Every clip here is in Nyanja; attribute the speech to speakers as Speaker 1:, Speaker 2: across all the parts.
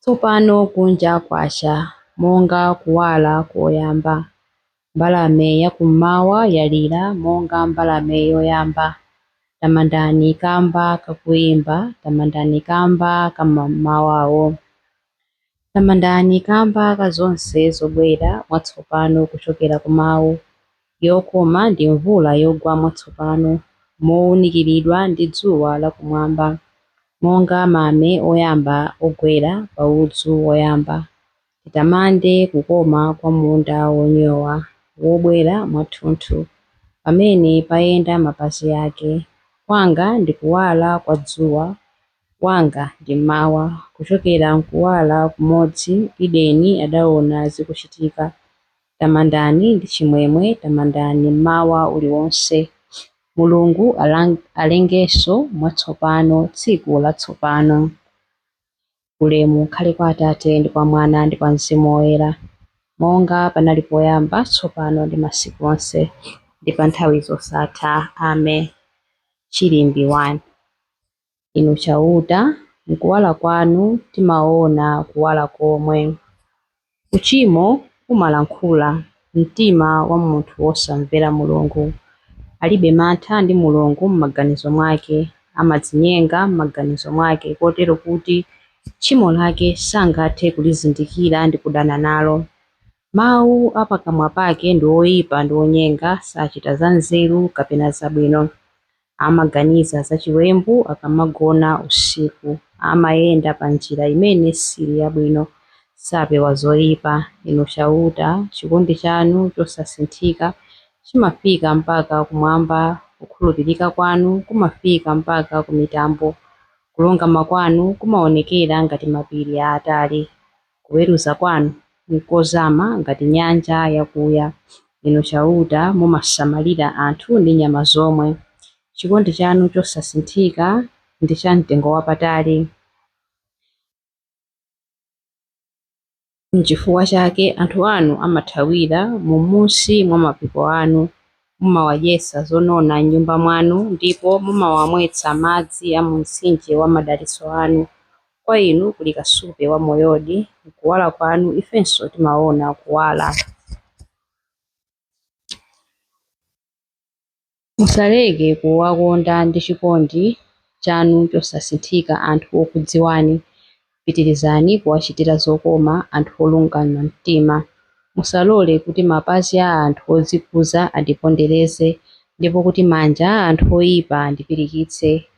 Speaker 1: Tsopano kunja kwacha monga kuwala koyamba. Mbalame ya kummawa yalira monga mbalame yoyamba. Tamandani kamba ka kuimba, tamandani kamba ka mmamawawo. Tamandani kamba ka zonse zobwera mwatsopano kuchokera ku Mawu. yokoma ndi mvula yogwa mwatsopano mowunikiridwa ndi dzuwa la kumwamba, monga mame oyamba ogwera pa udzu woyamba, titamande kukoma kwa munda wonyowa wobwera mwathunthu pamene payenda mapazi ake, kwanga ndi kuwala kwa dzuwa, wanga ndi mmawa, kuchokera m'kuwala kumodzi Edeni adawona zikuchitika, Tamandani ndi chimwemwe, tamandani mmawa uliwonse. Mulungu alengenso mwatsopano tsiku latsopano. Ulemu ukhale kwa Atate, ndi kwa Mwana, ndi kwa Mzimu Woyera, monga panali poyamba, tsopano, ndi masiku onse, ndi pa nthawi zosatha. Amen. Chilimbi 1. Inu Chauta, m'kuwala kwanu timaona kuwala komwe. Uchimo umalankhula mumtima wa munthu wosamvera Mulungu. Alibe mantha ndi Mulungu m'maganizo mwake, amadzinyenga m'maganizo mwake, kotero kuti tchimo lake sangathe kulizindikira ndi kudana nalo. Mau a pakamwa pake ndi oipa ndi onyenga, sachita zanzeru kapena zabwino. Amaganiza za chiwembu akamagona usiku. Amayenda pa njira imene sili yabwino. Sapewa zoipa. Inu Chauta, chikondi chanu chosasinthika chimafika mpaka kumwamba, kukhulupirika kwanu kumafika mpaka ku mitambo. Kulungama kwanu kumaonekera ngati mapiri aatali. Kuweruza kwanu nkozama ngati nyanja yakuya. Inu Chauta, mumasamalira anthu ndi nyama zomwe. Chikondi chanu chosasinthika ndi chamtengowapatali. Nchifukwa chake anthu anu amathawira m'munsi mwa mapiko anu. Mumawadyetsa zonona m'nyumba mwanu, ndipo mumawamwetsa madzi a mu mtsinje wa madalitso anu. Kwa inu kuli kasupe wa moyodi, m'kuwala kwanu ifenso timaona kuwala. Musaleke kuwakonda ndi chikondi chanu chosasinthika anthu okudziwani. Pitirizani kuwachitira zokoma anthu olungama mtima. Musalole kuti mapazi a anthu odzikuza andipondereze, ndipo kuti manja a anthu oipa andipirikitse.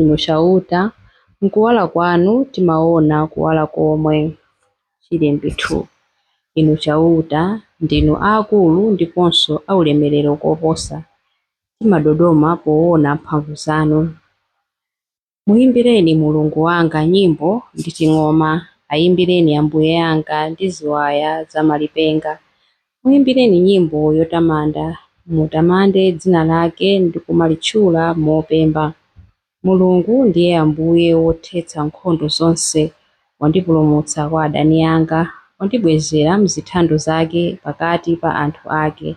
Speaker 1: Inu Chauta, m'kuwala kwanu timaona kuwala komwe. Chilimbi 2. Inu Chauta, ndinu aakulu ndiponso aulemerero koposa, timadodoma poona mphamvu zanu. Muimbireni Mulungu wanga nyimbo ndi ting'oma, aimbireni Ambuye anga ndi ziwaya za malipenga, Muimbireni nyimbo yotamanda, mutamande dzina lake ndi kumalitchula mopemba. Mulungu ndiye Ambuye wothetsa nkhondo zonse, wandipulumutsa kwa adani anga, wandibwezera m'zithando zake pakati pa anthu ake.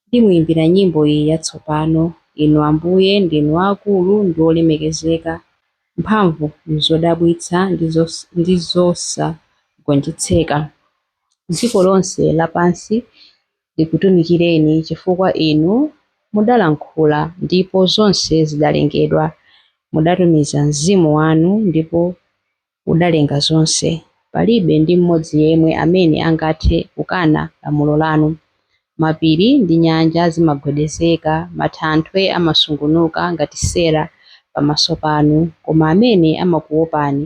Speaker 1: Ndimuimbira nyimbo iyi yatsopano, Inu Ambuye ndinu aakulu ndi olemekezeka, mphamvu m'zodabwitsa ndi zosagonjetseka. Dziko lonse lapansi likutumikireni, chifukwa Inu mudalankhula, ndipo zonse zidalengedwa, mudatumiza Mzimu wanu ndipo udalenga zonse. Palibe ndi m'modzi yemwe amene angathe kukana lamulo lanu. Mapiri ndi nyanja zimagwedezeka, mathanthwe amasungunuka ngati sera pamaso panu, koma amene amakuopani.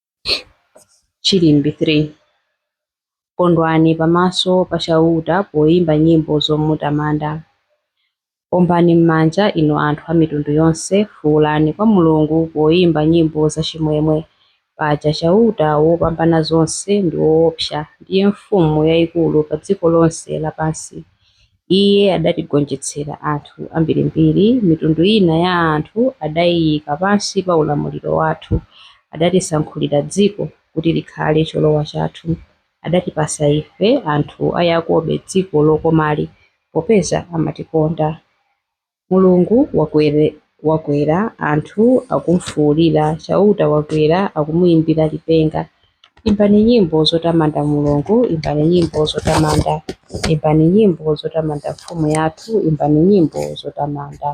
Speaker 1: Chilimbi 3 Kondwani pamaso pa Chauta poimba nyimbo zomutamanda. Ombani m'manja, inu anthu a mitundu yonse, fuulani kwa Mulungu poimba nyimbo zachimwemwe. Paja Chauta Wopambanazonse ndi woopsa, ndiye mfumu yaikulu pa dziko lonse lapansi. Iye adatigonjetsera anthu ambirimbiri, mitundu ina ya anthu adaiika pansi pa ulamuliro wathu. Adatisankhulira dziko kuti likhale cholowa chathu. Adatipatsa ife, anthu a Yakobe, dziko lokomali, popeza amatikonda. Mulungu wakwera, anthu akumfuulira, Chauta wakwera, akumuimbira lipenga. Imbani nyimbo zotamanda Mulungu, imbani nyimbo zotamanda, imbani nyimbo zotamanda mfumu yathu, imbani nyimbo zotamanda.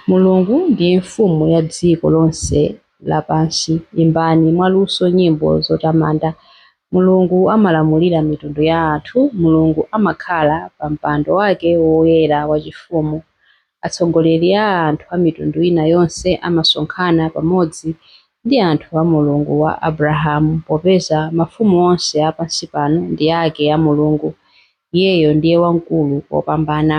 Speaker 1: Mulungu ndiye Mfumu ya dziko lonse lapansi, imbani mwaluso nyimbo zotamanda. Mulungu amalamulira mitundu ya anthu, Mulungu amakhala pa mpando wake woyera wachifumu. Atsogoleri a anthu a mitundu ina yonse amasonkhana pamodzi ndi anthu a Mulungu wa Abrahamu, popeza mafumu onse a pansi pano ndi ake a Mulungu, Iyeyo ndiye wamkulu kopambana.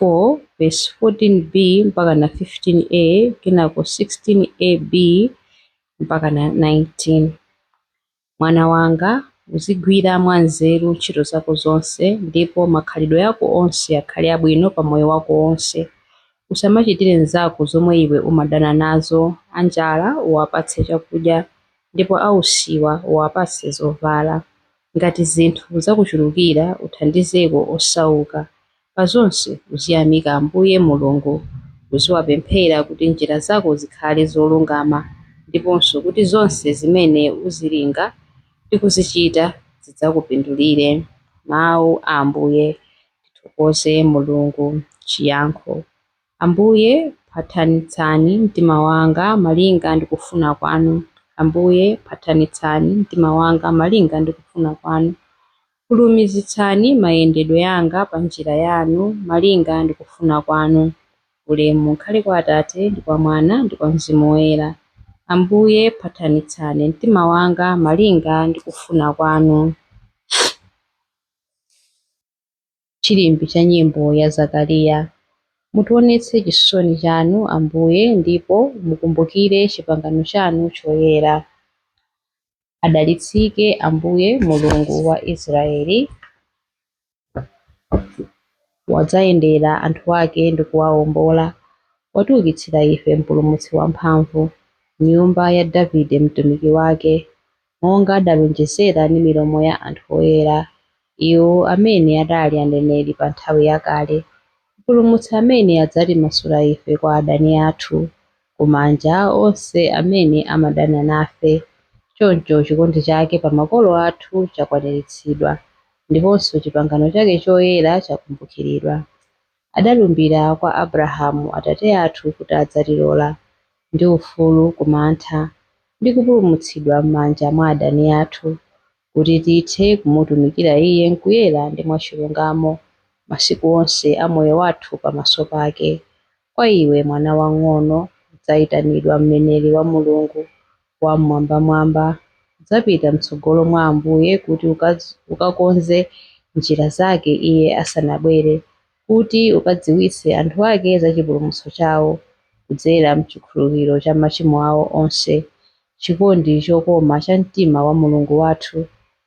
Speaker 1: 4, vesi 14b mpakana 15a, kenako 16ab mpakana 19. Mwana wanga, uzigwira mwanzeru ntchito zako zonse, ndipo makhalidwe ako onse akhale abwino pa moyo wako wonse. Usamachitire mnzako zomwe iwe umadana nazo, anjala uwapatse chakudya, ndipo ausiwa uwapatse zovala. Ngati zinthu zakuchulukira, uthandizeko osauka, Pa zonse uziyamika Ambuye Mulungu, uziwapemphera kuti njira zako zikhale zolungama, ndiponso kuti zonse zimene uzilinga ndi kuzichita zidzakupindulire. Mawu a Ambuye. Tithokoze Mulungu. Chiyankho Ambuye, phathanitsani mtima wanga malinga ndi kufuna kwanu. Ambuye, phathanitsani mtima wanga malinga ndi kufuna kwanu. Fulumizitsani mayendedwe anga pa njira yanu malinga ndi kufuna kwanu. Ulemu ukhale kwa Atate, ndi kwa Mwana, ndi kwa Mzimu Woyera. Ambuye, phathanitsani mtima wanga malinga ndi kufuna kwanu. chilimbi cha nyimbo ya Zakariya. Mutionetse chisosoni chanu, Ambuye, ndipo mukumbukire chipangano chanu choyera. Adalitsike Ambuye Mulungu wa Israeli, wadzayendera anthu ake ndi kuwaombola. Watiukitsira ife mpulumutsi wamphamvu, nyumba ya Davide mtumiki wake. monga adalonjezera ndi milomo ya anthu oyera, iwo amene adali aneneri pa nthawi yakale, Mpulumutsi amene adzatimasula ife kwa adani athu, ku manja a onse amene amadana nafe. Choncho chikondi chake pa makolo athu chakwaniritsidwa, ndiponso chipangano chake choyera chakumbukiridwa. Adalumbira kwa Abrahamu atate athu kuti adzatilola, ndi ufulu ku mantha, ndi kupulumutsidwa m'manja mwa adani athu, kuti tithe kumutumikira Iye m'kuyera ndi mwachilungamo, masiku onse a moyo wathu pamaso pake. Kwa iwe, mwana wamng'ono, udzaitanidwa mneneri wa Mulungu, Wam'mwambamwamba, udzapita mtsogolo mwa Ambuye kuti ukakonze njira zake Iye asanabwere, kuti ukadziwitse anthu ake za chipulumutso chawo, kudzera m'chikhululukiro cha machimo awo onse, chikondi chokoma cha mtima wa Mulungu wathu,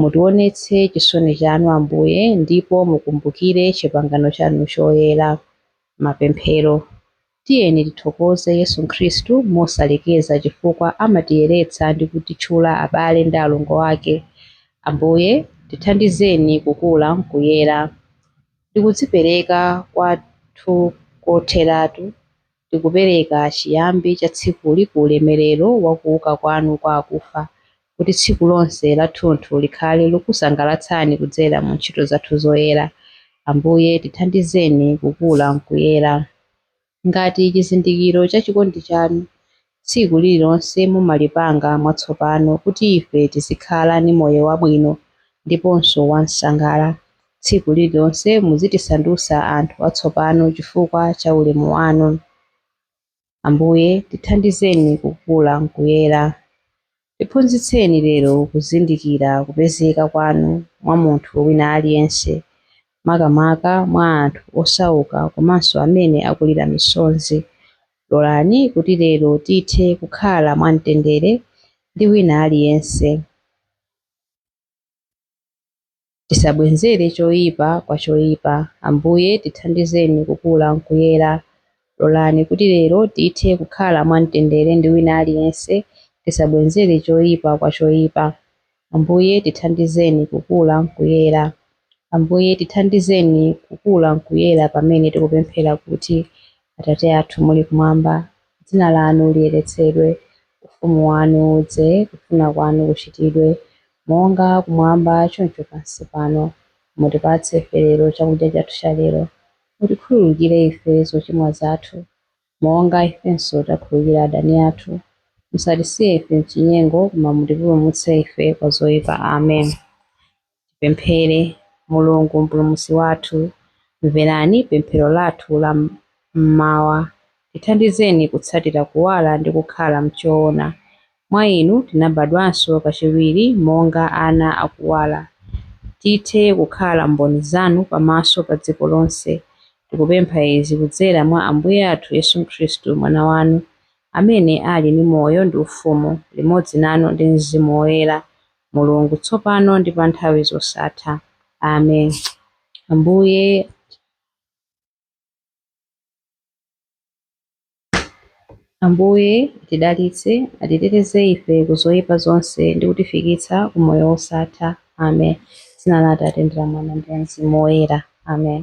Speaker 1: Mutionetse chisoni chanu, Ambuye, ndipo mukumbukire chipangano chanu choyera. Mapemphero. Tiyeni tithokoze Yesu Khristu mosalekeza chifukwa amatiyeretsa ndi kutitchula abale ndi alongo ake. Ambuye, tithandizeni kukula m'kuyera. Ndi kudzipereka kwathu kotheratu Tikupereka chiyambi cha tsikuli ku ulemerero wa kuuka kwanu kwa akufa, kuti tsiku lonse lathunthu likhale lokusangalatsani kudzera mu ntchito zathu zoyera. Ambuye, tithandizeni kukula m'kuyera ngati chizindikiro cha chikondi chanu. Tsiku lililonse mumalipanga mwatsopano kuti ife tizikhala ndi moyo wabwino ndiponso wamsangala. Tsiku lililonse muzitisandusa anthu atsopano chifukwa cha ulemu wanu. Ambuye, tithandizeni kukula mkuyera. Tiphunzitseni lero kuzindikira kupezeka kwanu mwa munthu wina aliyense, makamaka mwa anthu osauka komanso amene akulira misonzi. Lolani kuti lero tithe kukhala mwa mtendere ndi wina aliyense. Tisabwenzere choipa kwa choipa. Ambuye, tithandizeni kukula m'kuyera. Lolani kuti lero tithe kukhala mwamtendere ndi wina aliyense, tisabwenzere choipa kwa choipa. Ambuye, tithandizeni kukula m'kuyera. Ambuye, tithandizeni kukula m'kuyera pamene tikupemphera kuti, Atate athu muli Kumwamba. Dzina lanu liyeretsedwe. Ufumu wanu udze. Kufuna kwanu kuchitidwe, monga kumwamba choncho pansi pano. Mutipatse ife lero chakudya chathu chalero. Mutikhululukire ife zochimwa zathu, monga ifenso takhululukira adani athu. Musatisiye ife m'chinyengo, koma mutipulumutse ife kwa zoipa. Amen. Tipemphere. Mulungu Mpulumutsi wathu, mverani pemphero lathu la m'mawa. Tithandizeni kutsatira kuwala ndi kukhala m'choona. Mwa Inu tinabadwanso kachiwiri monga ana a kuwala. Tithe kukhala mboni Zanu pamaso pa dziko lonse. Tikupempha izi kudzera mwa Ambuye athu Yesu Khristu, Mwana Wanu, amene ali ndi moyo ndi ufumu limodzi Nanu ndi Mzimu Woyera. Mulungu, tsopano ndi pa nthawi zosatha. Amen. Ambuye Ambuye atidalitse, atiteteze ife ku zoyipa zonse ndi kutifikitsa ku moyo wosatha. Amen. Dzina la Atate ndi la Mwana ndi la Mzimu Woyera. Amen.